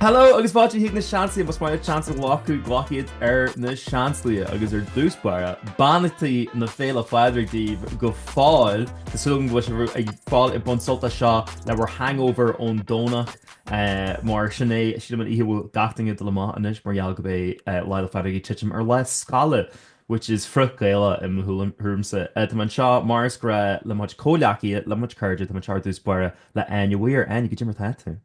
Hello agus fáilte chuig Na Seansálaithe más maith leat seans a ghlacadh glac iad ar na Seansálaithe agus ar dtús báire beannachtaí na Féile Pádraig daoibh go fóill Tá súil agam go bhfuil sibh go fóill ag baint sult as seo le bhur hangover ón Domhnach eh, mar sin é sílim an oíche a bhfuil gach duine ag dul amach anois mar gheall go mbeidh Lá 'le Phádraig ag titim ar lá scoile which is frith-Ghaelach i mo thuaim- thuairmse Eh, tá mé anseo mar is gnách le mo chuid comhghleacaithe, le mo chuid cairde, tá mé anseo ar dtús báire le Áine Mhaoir. Áine, cad é mar atá tú?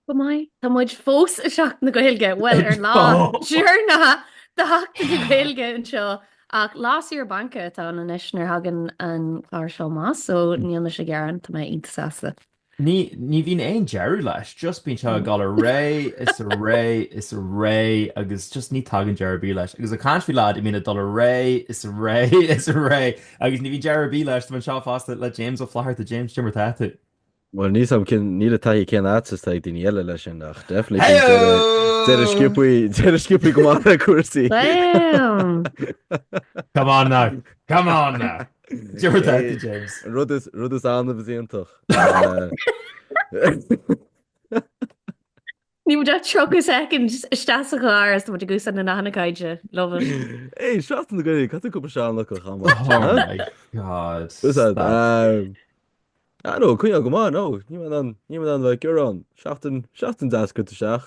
Go maith. Tá muid fós i Seachtain na Gaeilge, bhuel, an lá deireanach de Sheachtain na Gaeilge anseo, ach lá saoire bainc atá ann anois nuair a thagann an clár seo amach, so níl mise ag gearán, tá mé iontach sásta. Ní, ní bhíonn aon deireadh leis, just bíonn sé ag dul ar aghaidh is ar aghaidh is ar aghaidh agus just ní tagann deireadh ar bith leis. Agus ag caint faoi lad a bhíonn ag dul ar aghaidh is ar aghaidh is ar aghaidh, Agus ní bhíonn deireadh ar bith leis, tá mé anseo fosta le James Ó Flatharta, James cad é mar atá tú? Bhuel níl a fhios agam cén níl an taithí chéanna is atá ag daoine eile leis sin ach definitely Hey! bíonn deireadh deireadh sciobtha deireadh sciobtha go maith le cúrsaí. Damn! Come on now. Come on now. Cad é mar atá tú, James. Rud is rud is annamh is iontach. Uh, Níl muid ach 30 soicind isteach sa chlár agus tá muid ag úsáid na nathanna cainte. Love it. Hey, seachtain na Gaeilge, cad faoi cúpla seanfhocal chomh maith? Oh my god. Is ea, stop. Ah no, coinneáil go maith, no, ní maith ann, ní maith ann bheith ag gearán. Seachtain, seachtain deas curtha isteach.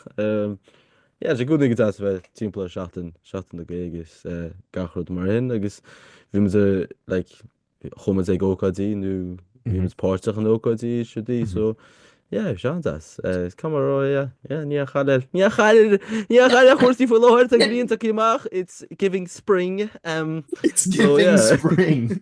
Yeah, tá sé i gcónaí go deas a bheith timpeall ar seachtain, seachtain na Gaeilge is gach rud mar sin agus bhí muid ar, like, chuaigh muid ag ócáidí nó bhí muid páirteach in ócáidí siúdaí so yeah bhí sé an-deas. Is cuma ró yeah yeah níl aon chaill níl aon chaill níl aon chaill ar chúrsaí faoi láthair tá an ghrian tagtha amach it's giving spring um it's giving spring.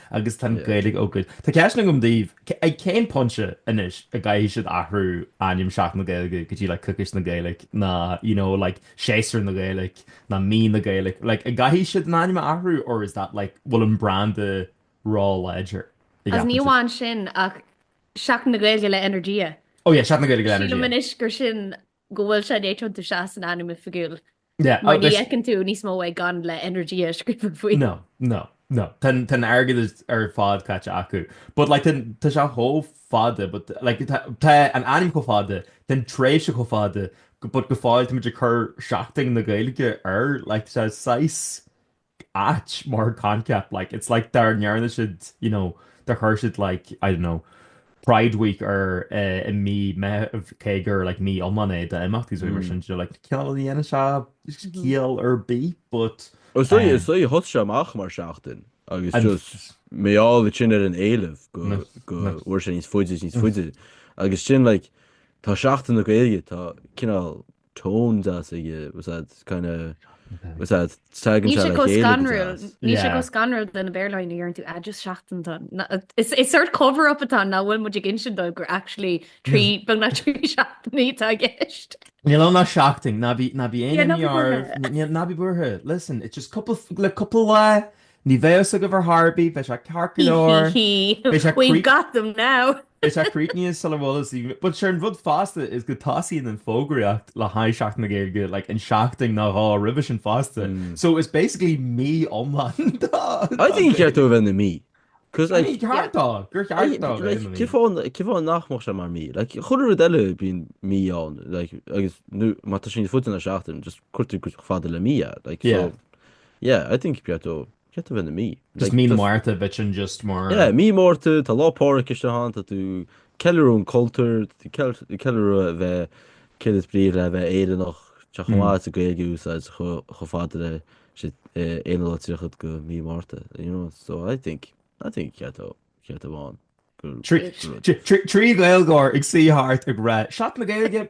Agus tá an Ghaeilge oh God. Tá ceist agam daoibh, ag cén pointe anois a gcaithfidh siad athrú ainm Seachtain na Gaeilge go dtí like Coicís na Gaeilge ná you know like Séasúr na Gaeilge ná Mí na Gaeilge? Like a gcaithfidh siad an ainm a athrú or is that like bhfuil an branda róláidir? Agus ní amháin sin ach Seachtain na Gaeilge le Energia. Oh yeah, Seachtain na Gaeilge le Energia. Sílim anois gur sin go bhfuil sé dtuigeann tú sea san ainm oifigiúil. Yeah, Mar ní fheiceann tú níos mó é gan le Energia scríofa faoi. No, no, no. Tá an- tá an airgead is- ar fad caite acu. But like tá- tá sé chomh fada but like tá- tá an ainm chomh fada, tá an tréimhse chomh fada go- but go fóill táimid ag cur seachtain na Gaeilge air like tá saghas ait mar concept like it's like dar ndearna siad you know dar chuir siad like I don't know Pride Week ar eh, i mí Meithimh cé gur like mí iomlán é d'imeachtaí is rud mar sin you know like cineál ní dhéanann sé ciall ar bith but Is é eh, is é thosaigh sé amach mar seachtain agus an just mar gheall air sin ar an éileamh go go bhfuair sé níos faide is níos faide agus sin like tá seachtain na Gaeilge tá cineál tone deas aige was that kind of was that tagann sé le chéile níl sé chomh scanrúil do na Béarlóirí ar an tú just seachtain don is is sórt cover up atá nach bhfuil muid ag insint dóibh gur actually trí beagnach trí seachtainí atá i gceist Níl ann ach seachtain ná bí ná bí aon ní ná bí buartha listen it's just cúpla cúpla lá ní bheidh a fhios agaibh ar chor ar bith beidh sé ceart go leor beidh sé we've got them now Is é críochnaithe sula bhfuil sí. But sure an rud fosta is go tosaíonn an fógraíocht le haghaidh Seachtain na Gaeilge like in seachtain nó dhá roimhe sin fosta. So it's basically mí iomlán dá I think gur cheart dó a bheith ina mí. Cos like. Ní ceart dó. Gur cheart dó a bheith ina mí. Like cén fáth nach mbeadh sé mar mí? Like chuile rud eile bíonn mí ann like agus nó má tá sé níos faide ná seachtain just cuirtear chomh fada le mí é like so yeah I think ba cheart dó. Ceart dó a bheith ina mí. Just mí na Márta duit sin just mar. Yeah, mí Márta, tá Lá Pádraig isteach ann, tá tú ag ceiliúradh an chultúir, tá tú ag ceiliúradh a bheith céard is brí le bheith Éireannach, tá sé chomh maith is a Gaeilge a úsáid chomh fada leis an 31ú lá de mí Márta, you know, so I think, I think cé atá, cé atá ann gur rud. Trí Gaeilgeoir ag suí thart ag rá, Seachtain na Gaeilge!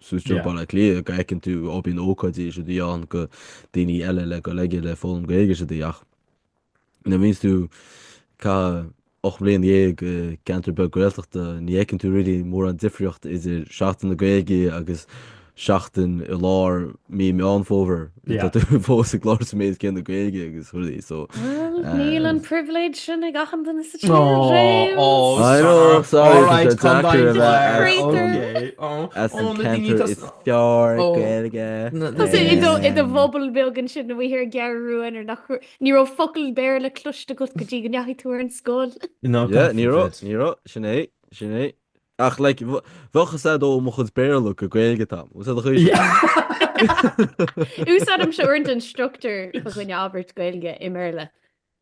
Suas go dtí Baile Átha Cliath go fheiceann tú ó bíonn ócáidí is rudaí ann do dhaoine eile le dul aige le foghlaim Gaeilge is rudaí ach nuair a bhíonns tú ag caitheamh 18 mbliain i gceantar beag Gaeltachta ní fheiceann tú really mórán difríocht idir seachtain na Gaeilge agus seachtain i lár mí Meán Fómhair. Tá tú fós ag labhairt sa méid céanna Gaeilge agus rudaí so. Bhuel, níl an privilege sin ag achan duine sa tír, James. Oh, I know, sorry, tá sé deacair a bheith as an ceantar. As an ceantar is fearr Gaeilge. Tá sé i do bhubble beag ansin nó bhíothar ag gearradh rúin ar na. Ní raibh focal Béarla cloiste agat go dtí go ndeachaigh tú ar an scoil. Yeah, ní raibh, ní raibh, sin é, sin é. Ach like bheadh a fhios agat ó mo chuid Béarla gur Gaeilge atá agam. Úsáid a chuid sin. Úsáidimse uaireanta an struchtúr de chineál abairt Gaeilge i mBéarla.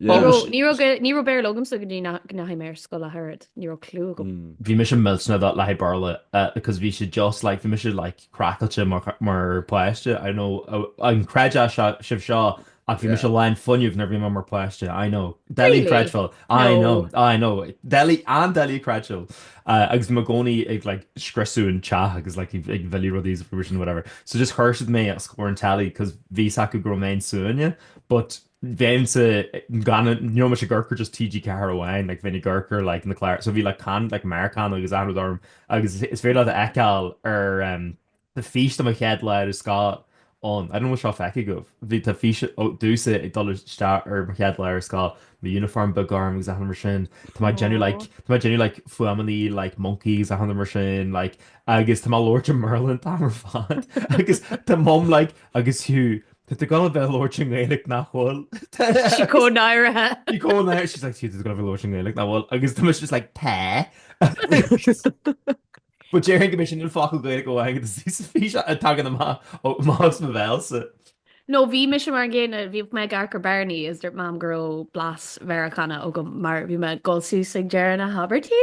Ní raibh Béarla agamsa go dtí go ndeachaigh mé ar scoil ach oiread. Ní raibh clue agam. Bhí mise millteanach le haghaidh Béarla because bhí sé just like bhí mise like craiceáilte mar páiste, I know, an gcreidfeadh sibh seo ach bhí mise lán fuinnimh nuair a bhí mé mar páiste, I know, doiligh creidbheáil, I know, I know, doiligh, an-doiligh creidbheáil agus bhí mé i gcónaí ag like scriosadh an teach agus like ag milleadh rudaí agus rud mar sin whatever so just chuir siad mé os comhair an telly cause bhí a fhios acu go raibh mé an-suaine but Bheinnse gan níl mise ag amharc ar just TG4 amháin like bheinn ag amharc ar like na cláir so bhí like can like Meiriceánach agus achan rud orm agus is féidir leat a fheiceáil ar um, tá fís de mo chéad lá ar scoil ann, I don't know an bhfuil seo feicthe agaibh, bhí tá fís domhsa ag dul isteach ar mo chéad lá ar scoil, mo uniform beag gorm agus achan rud mar sin, tá mé ag déanamh Aww. like tá mé ag déanamh like fuaimeannaí like moncaí agus achan rud mar sin like agus tá mé ag labhairt i mBéarla an t-am ar fad agus tá mum like agus you Tá tú ag gabháil a bheith ag labhairt i nGaeilge nach bhfuil? Tá sí chomh náirithe. She's chomh náirithe, she's like, tá tú ag gabháil a bheith ag labhairt i nGaeilge nach bhfuil? Agus tá mise just like, tá. But déarfainn go mbeidh sé níl focal Gaeilge amháin agat is is bhí sé ag tagann amach amach as mo bhéalsa. No bhí mise mar an gcéanna, bhíodh mé ag amharc ar Barney agus dúirt Mam go raibh blas Mheiriceánach agam mar bhí mé ag dul suas ag deireadh na habairtí.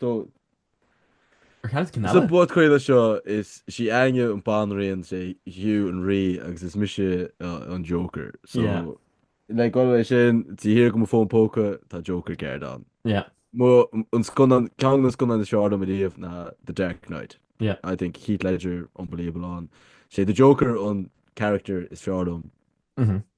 Sa bpodchraoladh seo, is sí Áine an banríon, is é Hugh an rí agus is mise an joker. So, le dul leis sin, taobh thiar de mo fón póca, tá joker card ann. Mo, an scannán, ceann de na scannáin is fearr liom ariamh ná The Dark Knight. I think Heath Ledger unbelievable ann. Is é the joker an character is fearr liom.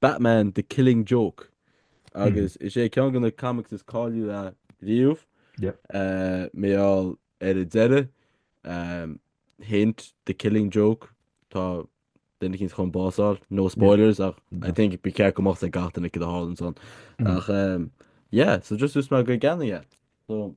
Batman, The Killing Joke agus is é ceann de na comics is cáiliúla riamh. Mar gheall ar an deireadh. Hint, The Killing Joke, tá duine eicínt chun bás a fháil. No spoilers ach I think ba cheart go mbeadh 's ag gach duine céard a tharlaíonns ann. Ach yeah, so just ús mé go gceannaigh é. So.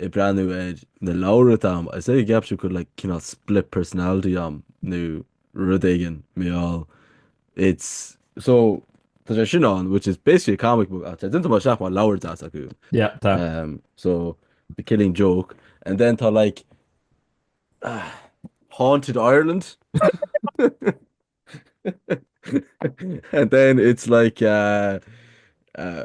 ag breathnú ar na leabhra atá a'm agus ag ceapadh go bhfuil like cineál split personality a'm nó rud éigin mar gheall it's so tá sé sin ann which is basically a comic book ach tá déanta mar seach mar leabhar deas acu yeah tá um, so the killing joke and then tá like ah, haunted Ireland and then it's like uh, uh,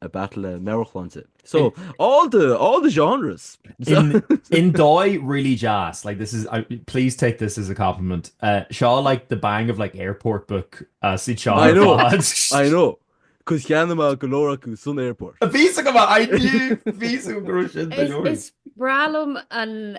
a battle le meabhairshláinte. So, all the, all the genres! I ndóigh really deas, like this is, please take this as a compliment, seo like the bang of like airport book as iad seo ar fad. I know, cos cheannaigh mé go leor acu san airport. Bhí a fhios agam é, I knew, bhí a fhios agam go raibh sin go leor. Is breá liom an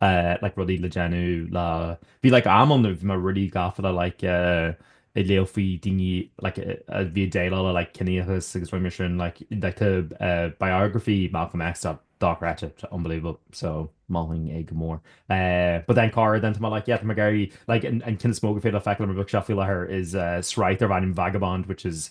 eh like rudaí le déanamh le bhí like am ann bhí mé really gafa le like eh ag léamh faoi daoine like a bhí ag déileáil le like ciníochas agus rudaí mar sin like like eh biography Malcolm X dochreidte it's unbelievable so mholfainn é go mór. Eh but then cara then tá mé like yeah tá mé ag éirí like an an ceann is mó gur féidir leat feiceáil ar mo bookshelf faoi láthair is eh sraith darb ainm Vagabond which is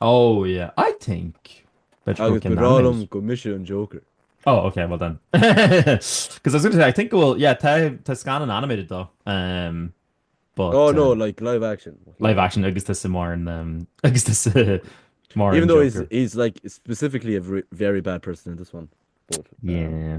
Oh yeah, I think that you Agus can ba bhreá nominate. liom go mise an Joker. Oh ok, well then. Because I was going to say, I think go bhfuil, yeah, tá, tá scannán animated dó, um, but, Oh no, uh, like live action. What can I live do? action agus tá sa mar an, um, agus tá sa mar Even an though he's, Joker. he's like specifically a vr- very bad person in this one. But, um, Yeah.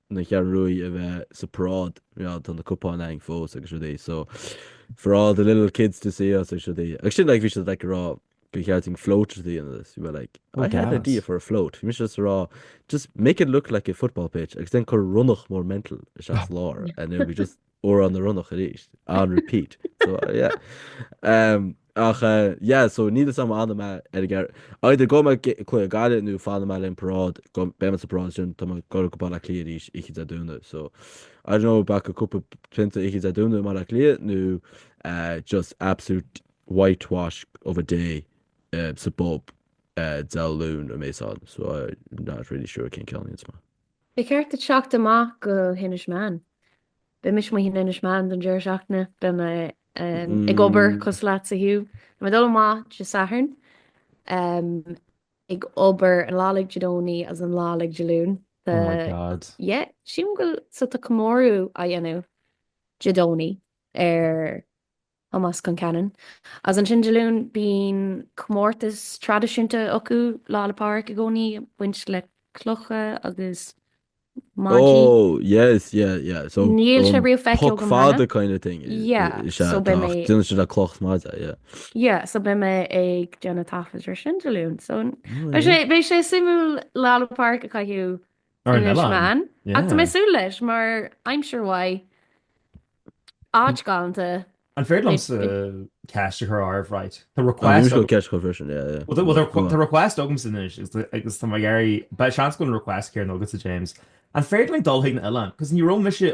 na Cheathrú Rua a bheith sa paráid you know tá na cupáin againn fós agus rudaí so for all the little kids to see us agus rudaí agus sin like bhí siad like rá gur cheart dúinn float a dhéanamh agus you were like Oh, I had an idea gas. for a float bhí mise just rá just make it look like a football pitch agus then cuir ronnach mór mental isteach sa lár and it would be just Amhrán na Ronnach arís on repeat so yeah ach yeah so níl fhios a'm an mbeidh ar an gceithre either gabhfaidh mé go Gaillimh nó fanfaidh mé leis an paráid go mbeidh mé sa paráid sin tá mé ag goil go Baile Átha Cliath arís oíche Dé Domhnaigh so I don't know b'fhéidir cúpla pionta oíche Dé Domhnaigh i mBaile Átha Cliath nó just absolute whitewash of a day sa bpub Dé Luain a bheas ann so I'm not really sure cén ceann iad is maith. Ba cheart duit teacht amach go hInis Meáin. Beidh mise amuigh in Inis Meáin don deireadh seachtaine. Beidh mé ag obair cosúil leatsa Hugh. Beidh mé ag dul amach Dé Sathairn, ag obair an lá uilig Dé Domhnaigh agus an lá uilig Dé Luain. Oh my God. Yeah, sílim go bhfuil, so tá comóradh á dhéanamh Dé Domhnaigh ar. Thomás Concannon, agus ansin Dé Luain bíonn comórtas traidisiúnta acu Lá 'le Pádraig i gcónaí ag baint le clocha agus maidí. Oh yes yeah yeah so Níl sé um riamh feicthe poc agam cheana. fada kind of thing Yeah is ea so beidh tá mé ach déanann siad le cloch maide yeah. Yeah so beidh mé ag déanamh taifead air sin Dé Luain so beidh sé beidh sé suimiúil Lá 'le Pádraig a chaitheamh Ar an oileán. Ach tá mé ag súil leis mar I'm sure why. Áit galanta. An féidir liomsa ceist a chur oraibh right? Tá request. Usual ceist a chur freisin yeah yeah. Well well tá request agamsa anois agus tá mé ag iarraidh beidh seans go bhfuil an request céanna agatsa James. An féidir linn dul chuig an oileán? Cos ní raibh mise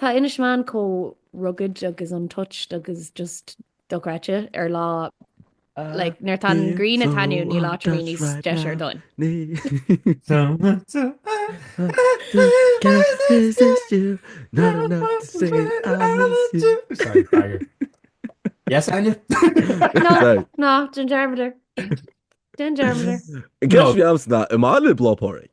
Tá Inis Meáin chomh rugged agus untouched agus just dochreidte ar lá like nuair atá an grian ag taitneamh níl áit ar bith níos deise ar domhain. No, déan dearmad air. Déan dearmad air. I gceist bhí Amsterdam i mbaile Lá 'le Pádraig.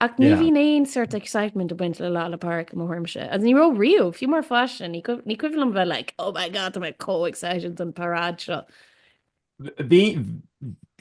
Ach ní bhíonn aon sort excitement ag baint le Lá 'le Pádraig i mo thuairimse. Agus ní raibh riamh, fiú mar pháiste, ní cuimhin liom bheith like, oh my god, tá mé chomh excited don paráid seo. Bhí,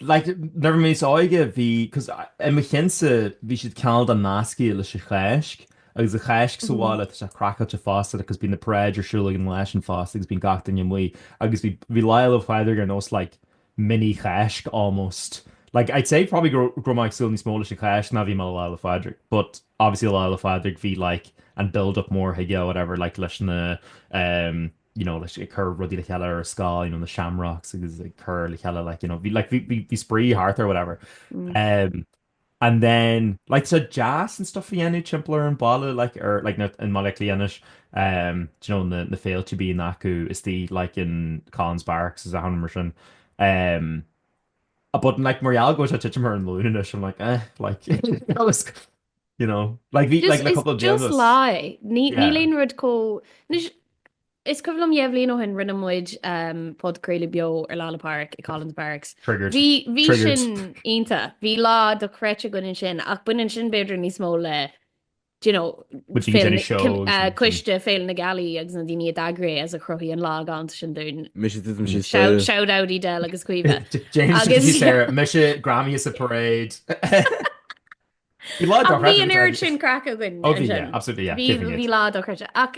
like, nuair a bhí mé níos óige bhí, cos i mo chionnsa bhí siad cineál de nasctha leis an Cháisc agus an Cháisc sa bhaile tá sé craiceáilte fosta like cos bíonn na paráid ar siúl againn leis sin fosta agus bíonn gach duine amuigh agus bhí, bhí Lá 'le Phádraig ar nós like mini Cháisc almost. Like I'd say probably go raibh go raibh mé ag súil níos mó leis an Cháisc ná bhí mé le Lá le Phádraig but obviously Lá le Phádraig bhí like an build up mór chuige whatever like leis na um you know leis ag cur rudaí le chéile ar scoil you know na Shamrocks agus ag cur le chéile like you know bhí like bhí bhí spraoi thart ar whatever um and then like so deas and stuff a dhéanamh timpeall ar an bhaile like ar like na in mBaile Átha Cliath anois um do you know na na féilte a bíonn acu istigh like in Collins Barracks is a thonn mar sin um a but like mar gheall go bhfuil sé titim ar an luain anois I'm like eh like I was you know like bhí like Just, le it's couple of just bliain lie. Ní, yeah níl aon rud có... Anois, Is cuimhin liom dhé bhliain ó shin rinne muid podchraoladh beo ar Lá 'le Pádraig i Collins Barracks. Triggered. Bhí bhí Triggered. sin iontach. Bhí lá dochreidte againn ansin ach baineann sin b'fhéidir níos mó le d'you know Muid ag féile déanamh na shows cim- agus eh, sin. coiste féile na gealaí agus na daoine a d'eagraigh é as a chruthaigh an lá galánta sin dúinn. Mise titim síos Shout dóibh. shout out í Del agus Caoimhe. James Agus- agus Sarah mise Grammy is a parade. Bhí lá Ach bhí dochreidte an agat, oiread agus- sin craic againn Ó bhí ansin. yeah, absolutely yeah. Bhí céad faoin bhí gcéad. lá dochreidte ach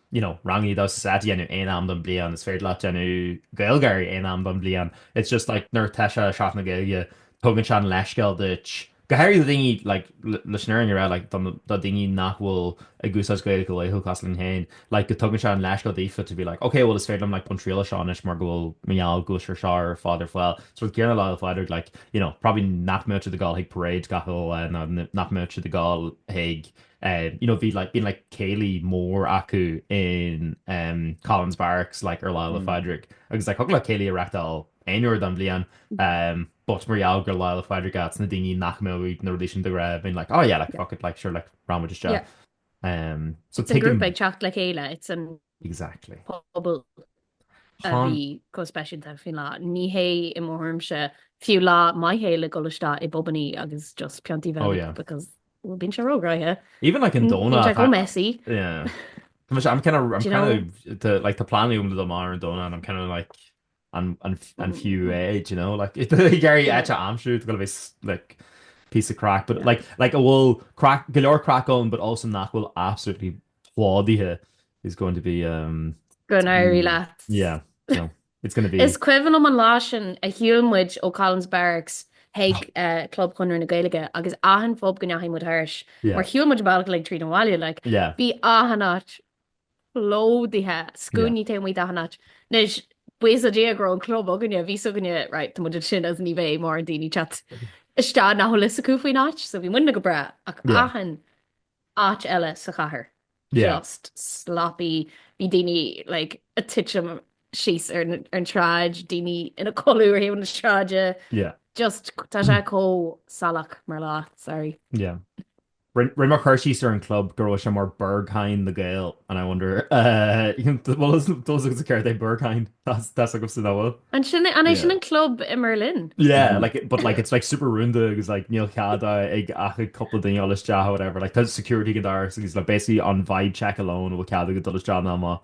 you know ranganna damhsa a dhéanamh aon am don bhliain is féidir leat déanamh Gaeilge aon am don bhliain it's just like nuair tá sé Seachtain na Gaeilge tugann sé an leithscéal duit go háirithe do daoine like leis an oireann ra like don do daoine nach bhfuil ag úsáid Gaeilge go laethúil cosúil linn féin like go tugann sé an leithscéal daofa to be like ok bhuel is féidir liom like baint triail as seo anois mar go bhfuil mar gheall go bhfuil sé ar seo ar fad ar fáil so rud céanna le Phádraig like you know probably nach mbeadh siad ag dul chuig parades gach aon lá nó nach mbeadh siad ag dul chuig em you know bhí like bíonn like céilí mór acu in em Collins Barracks like ar Lá 'le Mm. Phádraig agus like thig leat céilí a reachtáil aon uair don bhliain em but mar gheall gur Lá 'le Pádraig atá ann daoine nach mbeadh na rudaí sin de ghnáth bhíonn like oh yeah like Yeah. fuck it like sure like rachaidh muid Yeah. isteach em so It's an tuigim grúpa ag teacht le chéile. It's an Exactly. pobal a bhí chomh speisialta faoin lá. Ní hé i mo thuairimse fiú lá maith é le dul isteach i bpubannaí agus just piontaí bheith Oh, yeah. because well, bíonn sé rógraithe. Even like in Bíonn Dona. sé go tá- messy. Yeah. Tá muid I'm kind of, I'm Do you kind of, the, like, tá planning um do mar an Dona and I'm kind of like, an fiú é you know like ag iarraidh áit a aimsiú it's gonna be like piece of craic but like like a bhfuil craic go leor craic ann but also nach bhfuil absolutely plódaithe is going to be umm go n-éirí leat yeah so it's gonna be. Is cuimhin liom an lá sin a shiúil muid ó Collins Barracks chuig Club Chonradh na Gaeilge agus achan phub go ndeachaigh muid thairis mar shiúil muid an bealach uilig tríd an bhaile like bhí achan áit plódaithe scuaine taobh amuigh d'achan áit. Anois, buíochas le Dia go raibh an club againne, bhí fhios againne right, tá muid ag dul ansin agus ní bheidh mórán daoine teacht isteach nach bhfuil fhios acu faoin áit so bhí muidne go breá ach Yeah. achan áit eile sa chathair, Yeah. just sloppy, bhí daoine like a' titim síos ar na- ar an tsráid, daoine ina codladh ar thaobh na sráide, Yeah. just tá sé chomh salach mar lá, sorry. Yeah. Rinne rinne mé cur síos ar an gclub go raibh sé mar Berghain na nGael and I wonder eh an bhfuil fhios agatsa céard é Berghain? Tá's tá's agamsa céard é. An sin an é sin Yeah. an club i mBerlin? Yeah like it but like it's like super rúnda agus like níl cead a- ag ach ag cúpla duine dul isteach or whatever like tá security ag an doras agus like basically an vibe check alone a bhfuil cead agat dul isteach nó amach.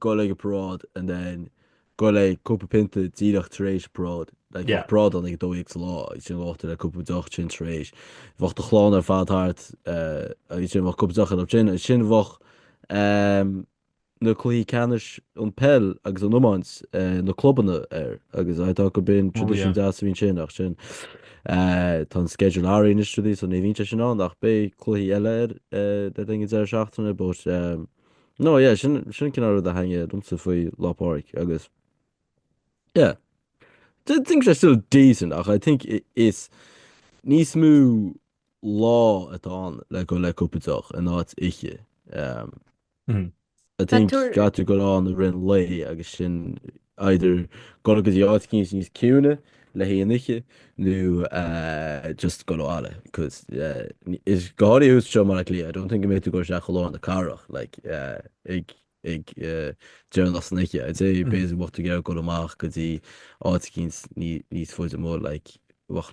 dul ag an paráid and then dul le cúpla pionta díreach tar éis an paráid. Like bheadh paráid ann ag a dó dhéag sa lá agus sin ghabhfadh tú le cúpla deoch sin tar éis. Bheadh do chlann ar fad thart eh, agus sin bheadh cúpla deoch ar sin agus sin bheadh ehm, na cluichí ceannais an peil agus an iomáint eh, na clubanna ar agus I thought gurb in Oh tradition yeah. deas a bhí ansin ach sin eh, tá an schedule athraithe na tradií so ní bhíonn sé sin ann ach beidh cluichí eile ar eh, le linn deireadh seachtaine but ehm, No yeah sin sin an cineál rud a thaitnigh domsa faoi Lá Pádraig agus yeah I think they're still decent ach I think i- is níos mó lá atá ann le dul le cúpla deoch in áit oíche. Um, Mhm. I think Tá tú- caithfidh tú dul ann i rith an lae agus sin either dul go dtí áit éicint níos ciúine le haghaidh an oíche nó just dul abhaile cos is go háirithe thuas anseo i mBaile Átha Cliath I don't think go mbeidh tú ag dul isteach go lár na cathrach like ag ag deireanach san oíche I'd say basically bheadh tú ag iarraidh dul amach go dtí áit éicint níos faide amuigh like bheadh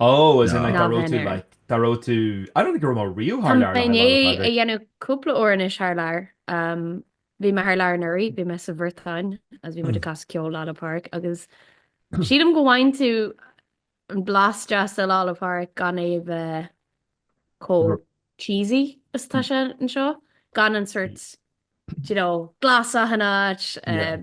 Oh, as in like Ná dá raibh bheinn tú ar. like dá raibh tú I don't think go raibh mé riamh Tá thar lear mé le i haghaidh Lá'l ndiaidh a Phádraig. dhéanamh cúpla uair anois thar lear. Bhí mé thar lear anuraidh, bhí mé sa Bhriotáin agus bhí muid ag casadh ceol Lá'l Pádraig agus sílim go bhfaigheann tú an blas deas de Lá'l Pádraig gan é a bheith chomh Ru- cheesy is atá sé anseo, gan an sórt you know glas achan áit Yeah. eh,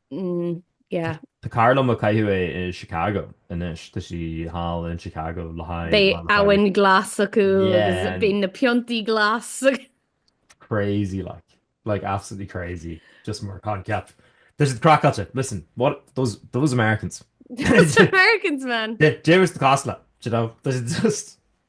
yeah. Tá cara liom ag caitheamh é i Chicago anois. Tá sí thall in Chicago le haghaidh. Beidh abhainn glas acu agus beidh na piontaí glas. Crazy like. Like absolutely crazy. Just mar concept. Tá siad craiceáilte. Listen, what those those Americans. Those Americans man. Dé dé ris do casla, you know. Tá siad just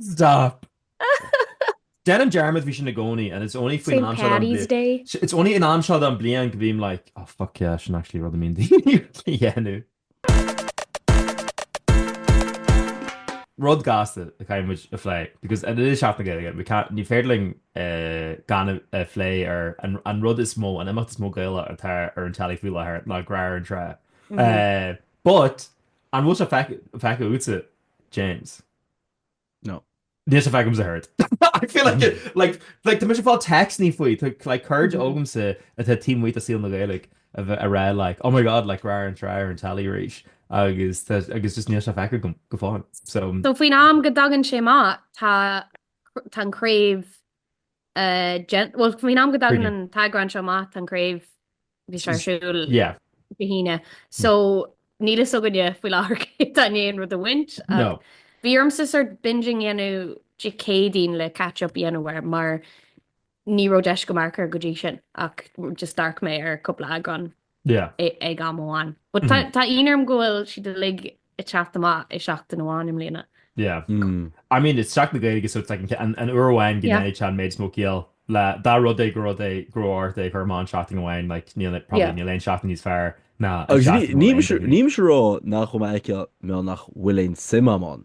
Stop! Déanaim dearmad faoi sin i gcónaí and it's only faoin am seo don bliain. It's only an am seo don bliain go bím like oh fuck yeah sin actually rud a mbíonn daoine uilig a dhéanamh. Rud gasta a chaithfidh muid a phlé because it is Seachtain na Gaeilge we can't ní féidir linn gan a phlé ar an rud is mó an imeacht is mó Gaelach atá ar an teilí faoi láthair ná Grá ar an Trá but An bhfuil sé feicthe agatsa, James? No. Níl sé feicthe agamsa ach oiread. I feel like it, like, like, tá mise ag fáil téacsannaí faoi, tá, like, cairde agamsa atá taobh amuigh de saol na Gaeilge a bheith ag rá, like, oh my god, like, Grá ar an Trá ar an teilí arís, agus, tá, agus just níl sé feicthe agam, go fóill, so. So, faoin am go dtagann sé amach, tá, tá an chraobh, eh, déan-, bhuel, faoin am go dtagann an t-eagrán seo amach, tá an chraobh Bhí sé ar siúl go hAoine. So níl fhios againne faoi láthair cé tá i ndiaidh an rud a bhaint. Bhí ormsa sort binging a dhéanamh Dé Céadaoin le catch up a dhéanamh air mar ní raibh deis agam amharc air go dtí sin ach just d'amharc mé ar cúpla eagrán ag am amháin. But tá ionadh orm go bhfuil siad uilig ag teacht amach i seachtain amháin i mbliana. Yeah. I mean, it's Seachtain na Gaeilge so it's like an uair amháin go ndéanfadh sé an méid is mó ciall le dá rud é go rud é go raibh ort é a chur amach seachtain amháin, like níl aon, probably níl aon seachtain níos fearr ná an seachtain go bhfuil aon duine. Agus nílimse ag rá nach raibh mé ag ciall, mé ag rá nach bhfuil aon suim agam ann.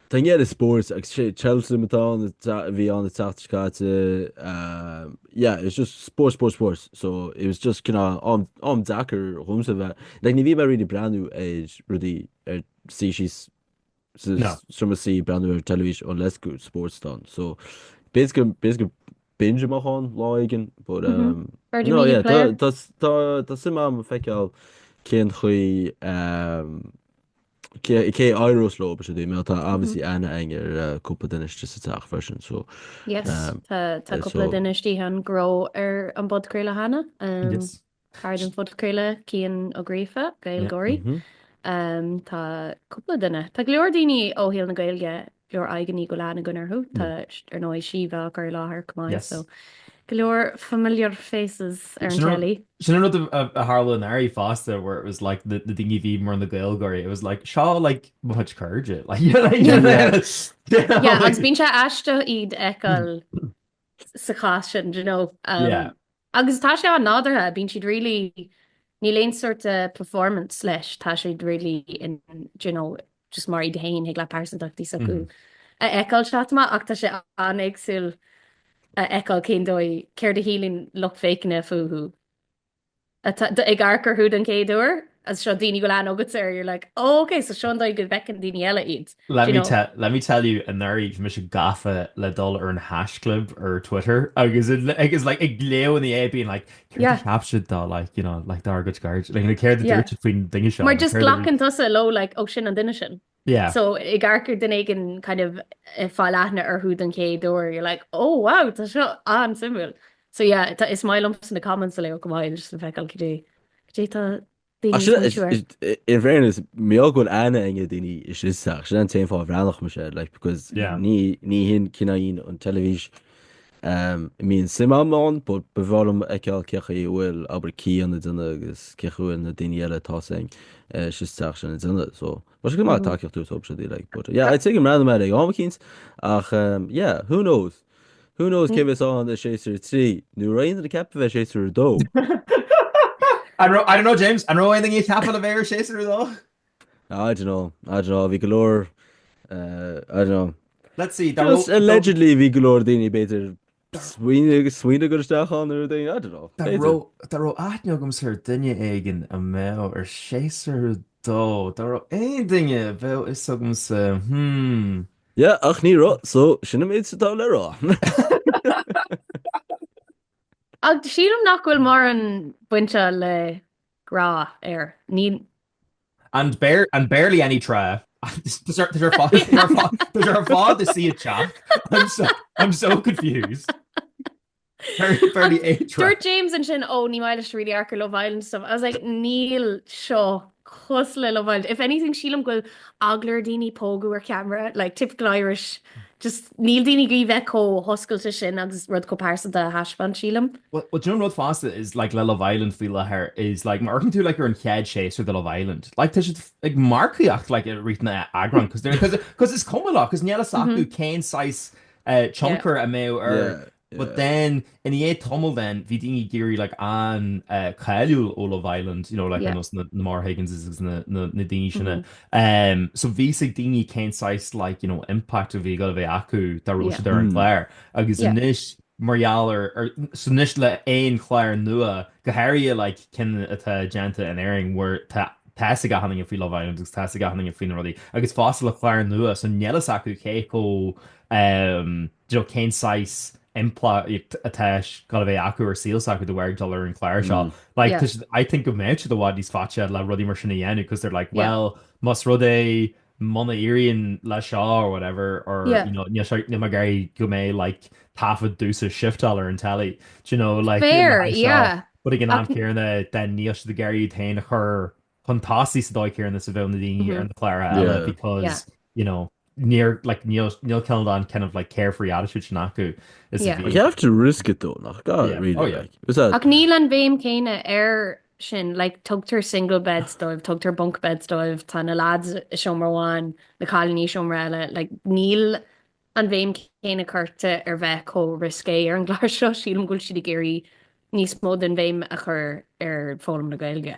Tá an gcead i spóirt agus sé Cheltenham atá ann a ta- a bhí ann an tseachtain seo caite. Um, yeah, it was just spórt, spórt, spórt. So it was just cineál am, am deacair dhomsa bheith. Like, ní bhím really ag breathnú ar rudaí ar sí sí s- sa No. s- sroma sí breathnú ar teilifís unless go spórt atá ann. So basically, basically binge amach ann lá éigin. But, Mhm. um, Virgin no, Media yeah, tá, player. tá, tá, tá suim a'm feiceáil cén chaoi um, Cé a éireos leo ba sé mé atá obviously an-aithne ar cúpla duine istigh sa teach freisin so. Yes tá cúpla duine istigh ann go raibh ar an bpodchraoladh cheana. Cara don phodchraoladh Cian Ó Gríofa, Gaylgeoirí. Tá cúpla duine. Tá go leor daoine ó shaol na Gaeilge leor aghaidheanna go bhfuil aithne againn orthu. Tá, ar ndóigh, Síomha á chur i láthair chomh maith so go leor familiar faces ar an telly. Sin an rud a tharla anuraidh fosta where it was like na daoine a bhí mar na Gaeilgeoirí it was like seo like mo chuid cairde like you know you know Yeah agus bíonn sé aisteach iad a fheiceáil sa chás sin d'you know. Yeah. Agus tá sé an-nádúrtha, bíonn siad really, níl aon sort of performance leis, tá siad really in, do you know, just mar iad féin thig leat pearsantachtaí s'acu a fheiceáil ag teacht amach ach tá sé an-éagsúil a fheiceáil cén dóigh, céard a shíleann lucht féachana fúthu ag amharc orthu don chéad uair. is seo daoine go bhfuil aithne agat air you're like oh ok so seo an dóigh go bhfeiceann daoine eile iad let me tell let me tell you anuraidh bhí mise gafa le dul ar an haischlib ar Twitter agus agus like ag gleoghnaí é being like céard yeah a cheap siad de like you know like dár gcuid cairde like céard a dúirt siad faoin duine seo mar just glacann tusa leo like ó sin an duine sin Yeah. So ag amharc ar daoine ag kind of eh, fáil aithne orthu don chéad uair, you're like, oh wow, tá seo an-suimiúil. So yeah, tá- is maith liomsa na comments a léamh chomh maith, just le feiceáil goidé, goidé tá daoine Actually, ag smaointiú. is- i- in fairness, mar gheall go bhfuil an-aithne ar daoine istigh sa teach. Sin an t-aon fáth a bhreathnódh mise, like, because Yeah. ní, ní hin cineál an teilifís Mbíonn suim agam ann but ba bhreá liom a fheiceáil cén chaoi a bhfuil abair Cian ag déanamh agus cén chaoi a bhfuil na daoine eile atá san sa teach sin ag déanamh so tá sé go maith tacaíocht a thabhairt dóibh siúd like but yeah I'd say go mbreathnóidh mé air ag am eicínt ach yeah who knows who knows cé bheas ann i séasúr a trí nó raibh aon duine ag ceapadh a bheith i séasúr a dó? I don't know James, an raibh aon duine ag ceapadh le bheith ar séasúr a dó? I don't know, I don't know, bhí go leor, eh, I don't know. Let's see, dá Just raibh- dá- allegedly bhí go leor daoine b'fhéidir smaoineamh agus smaoineamh cur isteach ann ar daoine, I don't know. Dá b'fhéidir. raibh, dá raibh aithne agamsa ar duine éigin a mbeadh ar séasúr dó, dá raibh aon duine a bheadh a fhios agamsa, hmm. Yeah, ach ní raibh, so sin an méid is atá le rá. Ach sílim nach bhfuil mórán bainte le grá air. Ní, And bar- and barely any trá. Tá sé ar fáil tá sé ar fáil tá sé ar fáil do suí ag teacht. I'm so I'm so confused. Barely barely a trá. Dúirt James ansin ó ní maith leis really amharc ar Love Island stuff. I was like níl seo cosúil le Love Island. If anything sílim go bhfuil eagla ar daoine pógadh ar ceamara like typical Irish just níl daoine ag iarraidh bheith chomh hoscailte sin agus rud chomh pearsanta a thaispeáint, sílim. Bhuel, bhuel, sin an rud fosta is like le Love Island faoi láthair is like má amharcann tú like ar an chéad séasúr de Love Island like tá siad ag marcaíocht like i rith an eagrán cos they're cos cos is cuma leo cos níl a fhios acu cén saghas eh, Yeah. tionchar a mbeadh air Yeah. But then, i ndiaidh tamaill then, bhí daoine ag éirí like an-cáiliúil ó Love Island, you know, like ar nós na Maura Higginses agus na daoine sin. So bhí a fhios ag daoine cén saghas like, you know, impact a bhí ag gabháil a bheith acu dá raibh siad ar an gclár. Agus anois mar gheall air, so anois le aon chlár nua, go háirithe like cinn atá déanta in Éirinn where tá tá a fhios ag achan duine faoi Love Island agus tá a fhios ag achan duine faoi na rudaí agus fosta le clár nua so níl a fhios acu cé chomh, you know, cén saghas impleacht atá ag gabháil a bheith acu ar saol s'acu de bharr dul ar an chlár seo. Like, yeah. I think go mbeadh siad i bhfad níos faití le rudaí mar sin a dhéanamh because they're like, well, yeah. más rud é muna éiríonn le seo or whatever, or, yeah. you know, níl mé ag iarraidh go mbeidh, like, taifead domhsa ag shifteáil ar an telly. Do you know, like, Fair, yeah. But ag an am céanna, then níl siad ag iarraidh iad féin a chur chun tosaigh sa dóigh chéanna is a bheadh na daoine ar na cláir eile because you know níor like níl níl cineál an kind of like carefree attitude sin acu is a bhí You have to risk it though nach gá yeah. really oh, yeah. like is that Ach níl an bhéim céanna ar sin like tugtar single beds dóibh tugtar bunk beds dóibh tá na lads i seomra amháin na cailíní i seomra eile like níl an bhéim céanna curta ar bheith chomh risqué ar an gclár seo sílim go bhfuil siad ag iarraidh níos mó den bhéim a chur ar foghlaim na Gaeilge.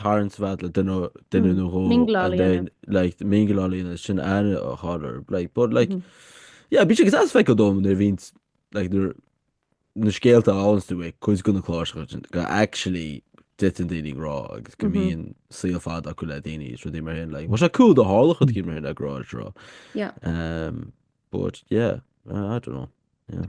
tarraingt mhaith le duine duine nó dhó and then like mingleáil leo ansin aithne a chur air like but like mm -hmm. yeah bí sé agus feictear dom nuair a bhíonn like nuair na scéalta áú é chuid de na cláracha go actually dtiteann daoine i ngrá agus go mbíonn saol fada acu le daoine rudaí mar sin like bheadh sé cool dá dtarlódh rud éicint mar sin le Grá ar an Trá but yeah I don't know yeah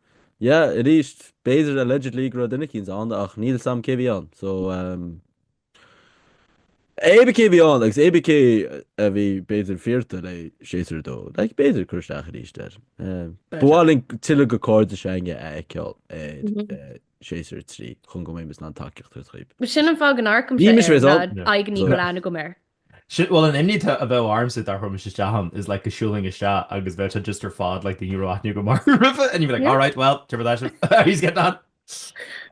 Yeah, arís, b'fhéidir allegedly go raibh duine éicint ann ach níl a fhios agam cé bhí ann. So um, cébí cé bhí ann agus cébí cé a bhí b'fhéidir fearta le séasúr dó. Like, b'fhéidir cur isteach arís air. Um, Better. Ba mhaith linn tuilleadh de cairde s'againne a fheiceáil ar Mhm. eh, séasúr trí chun go mbeimis in ann tacaíocht a thabhairt dóibh. Sin an fáth go n-amharcaim Bhí sé mis ar réidh an ann. Yeah. aigní Yeah. go bhfuil aithne agam air. Sin, bhuel, an imní atá, a bheadh ormsa, dá rachaimis isteach ann, is like, go siúlfainn isteach agus bheadh sé just ar fad, like, daoine a raibh aithne agam orthu roimhe, and you'd be like, Yeah. alright, well, cad é mar atá sibh, how yous getting on.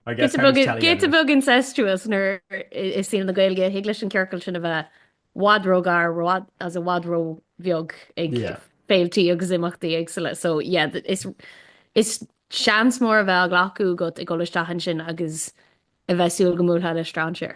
I guess giota time beag, is telling giota anyway. beag incestuous nuair i- i saol na Gaeilge, thig leis an ciorcal sin a bheith i bhfad róghar, i bhfad, as i bhfad róbheag ag Yeah. féiltí agus imeachtaí éagsula. So, yeah, th- is, is seans mór a bheith á ghlacadh agat ag dul isteach ansin agus a bheith ag súil go mbuailfeá le strainséir.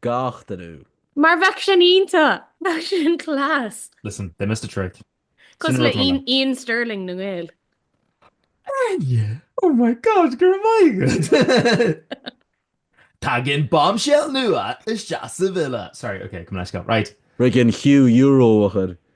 gach duine. Mar bheadh sin iontach! Bheadh sin class! Listen, they missed a trick. Sin Cosúil le rud maith. Iain Stirling na nGael. Áine! Oh my God, go raibh maith agat! Tagann bombshell nua isteach sa villa! Sorry, okay, coming at you, girl. Right. Riggin Hugh Euro a chur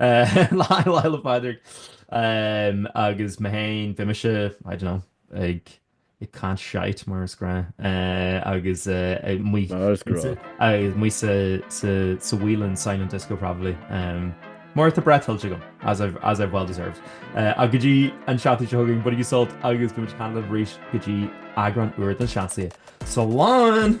Lá Fhéile Pádraig agus mé féin beidh mise I don't know ag caint shite mar is gnáth agus muid sa Whelan's Silent Disco probably mar tá break tuillte agam as I've as I've well deserved ach go dtí an seachtain seo chugainn bainigí sult agus beimid ag caint libh arís go dtí eagrán úr de Na Seansálaithe. Slán!